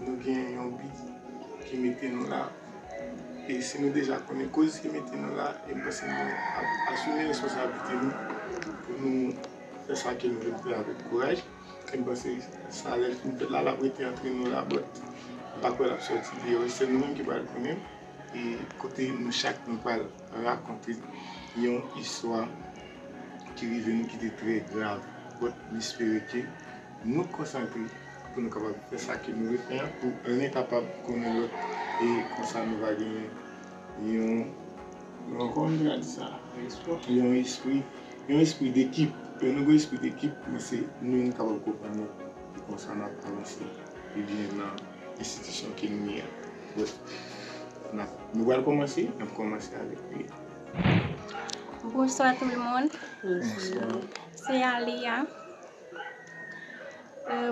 Nou gen yon bi ki mete nou la. E si nou deja konnen koz ki mete nou la, e m panse nou ap asime responsablite nou pou nou fè sa ke nou vle fè avèk kouraj. E m panse sa lè l fin fèt la, l ap rete antre nou la bòt. M pa kwè l ap sòti deyò. Se nou menm ki pral konnen e kote nou chak nou pral rakonte yon istwa ki rive nou ki te trè grav. Bòt m espere ke Nou konsantre pou nou kapab fè sa ke nou vle fè an pou ren kapab konnen lòt e konsa nou va gen yon kòman nou ka di sa yon espri yon espri dekip lè nou gen espri dekip nou se nou nou kapab konprann lòt e konsa n ap avanse pi byen nan enstitisyon ke nou ye an nou pral kòmanse n ap kòmanse avèk li Bonswa tout moun se Alia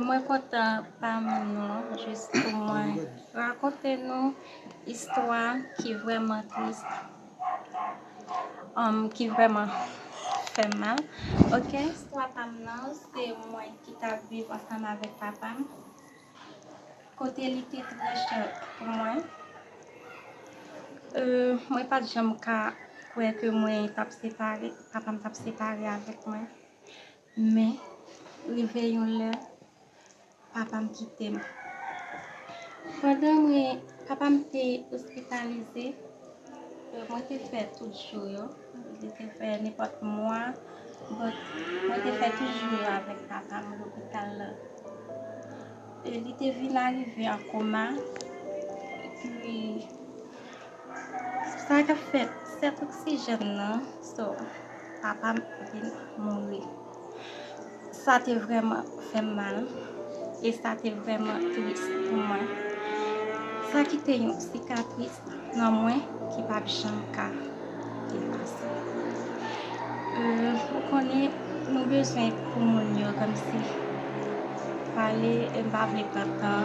Mwen kontan pami nou jis pou mwen rakonte nou istwa ki vreman tris ki vreman fè mal ok istwa pam nan se mwen ki ta viv ansanm avèk papam kote li te trè chè pou mwen mwen pat janm ka kwè ke mwen tap separe papam tap separe avèk mwen. Men, rive yon lè, papa m kite m. Pandan mwen, papa m te ospitalize, mwen te fè tout jou yo, mwen te fè nenpòt mwa, but mwen te fè tout jou yo avèk papa m lopital la. Li te vin arive an koma, epi. Sa kap fèt 7 oksijèn nan so papam vin mouri sa te vrèman fèm mal e sa te vrèman tris pou mwen sa kite yon sikatris nan mwen ki pap janm ka efase ou konnen nou bezwen pou moun yo kòmsi pale m pa vle pran tan.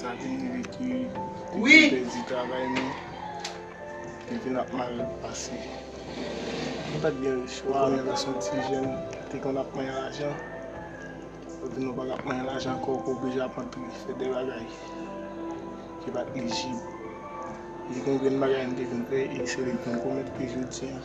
Sa vin rive ki depi n pèdi travay nou, depi n ap mal pase. Nou pa t gen rich, ou konnen lè w se yon ti jèn, ou te konn ap manyen lajan, jodi nou pa ka ap manyen lajan ankò, ou oblije ap antre fè de bagay ki pa t lijib. Gen yon grenn bagay m te vin fè e se li m konn komèt ke jodi an.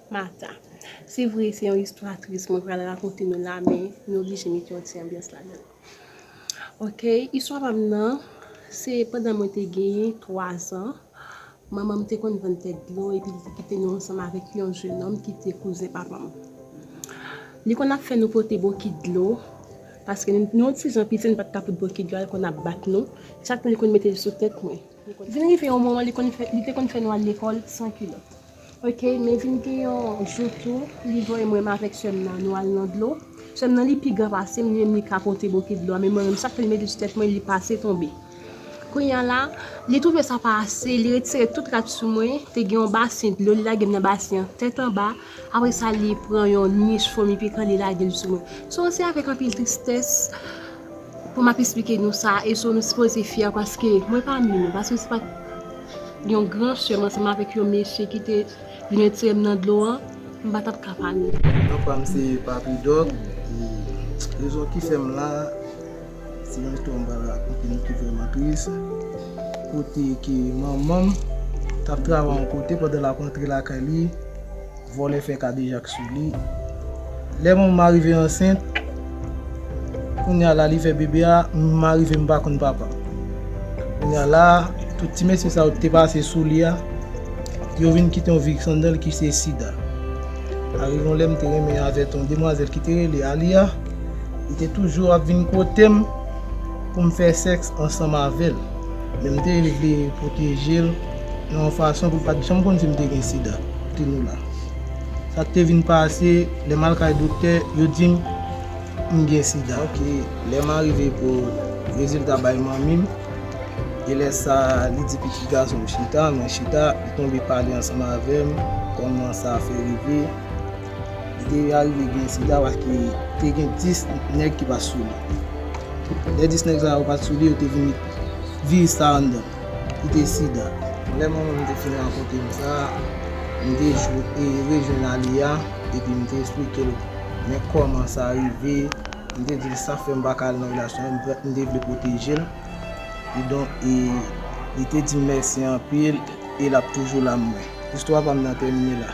Martha. Se vre se yon istwa tris mwen pral rakonte nou la men nou oblije mete yon ti anbyans ladann. Ok istwa pa m nan se pandan mwen te gen 3 zan manman m te konn vann tèt dlo epi li te kite nou ansanm avèk yon jenòm ki te kouzen papa m. Li konn ap fè nou pote bokit dlo paske nou ti jan piti nou pa t ka pote bokit dlo a li konn ap bat nou chak li konn mete l sou tèt mwen. Vin rive yon moman li konn fè li te konn fè nou al lekòl san kilòt ok men vin gen yon jou tou li voye mwen avèk sèm nan nou al nan dlo sèm nan li pi gran pasem li menm li ka pote bokit dlo a men mwen menm sak fè li mete sou tèt mwen li pase tonbe kounya la li twouve sa pa ase li retire tout rad sou mwen te gen yon basen dlo li lagem nan basen an tèt anba Apre sa li pran yon nich fomi pikan li lage l sou mwen. So se avèk anpil tristès pou m ap esplike nou sa e so nou sipoze fyè paske mwen pami nou paske se pa t yon gran sè m ansanm avèk yon mesye ki te vin retire m nan dlo an m pa t ap ka pami nou. Non pa m se Papy Dog e rezon ki fè m la. Se yon istwa m pral rakonte nou ki vrèman tris, kote ke manman m t ap travay yon kote pandan l ap rantre lakay li, vòlè fè kadejak sou li. Lè manman m arive ansent, kounye a la li fè bebe a, m arive m pa konn papa m. Kounye a la, tout ti mesye sa yo ki te pase sou li a, yo vin kite yon vye sandal ki se sida. Arive yon lè m te renmen avè yon demwazèl ki te rele Aliya. Li te toujou ap vin kote m pou m fè sèks ansanm avè l, men m te vle pwoteje l nan yon fason pou l pa t janm konn si m te gen sida. Tinola. Sa k te vin pase, lè m al kay doktè, yo di m m gen sida. Ok, lè m arive pou rezilta bay manmi m, e lè sa a li di pitit gason m chita, mwen chita, li tonbe pale ansanm avè m kòman sa fè rive. Li te arive gen ti gawa ki te gen 10 nèg ki pa t sou li. Lè 10 nèg sa yo pa t sou li, yo te vin met viris sa anndan l, ki te sida. Lè mwen menm te fin rankontre m sa, m te rejwenn Aliya epi m te esplike l men kòman sa rive. M te di l sa k fè m pa ka al nan relasyon an, m te vle pwoteje l. Kidonk, li te di m mèsi anpil e l ap toujou la pou mwen. Istwa pa m nan tèmine la.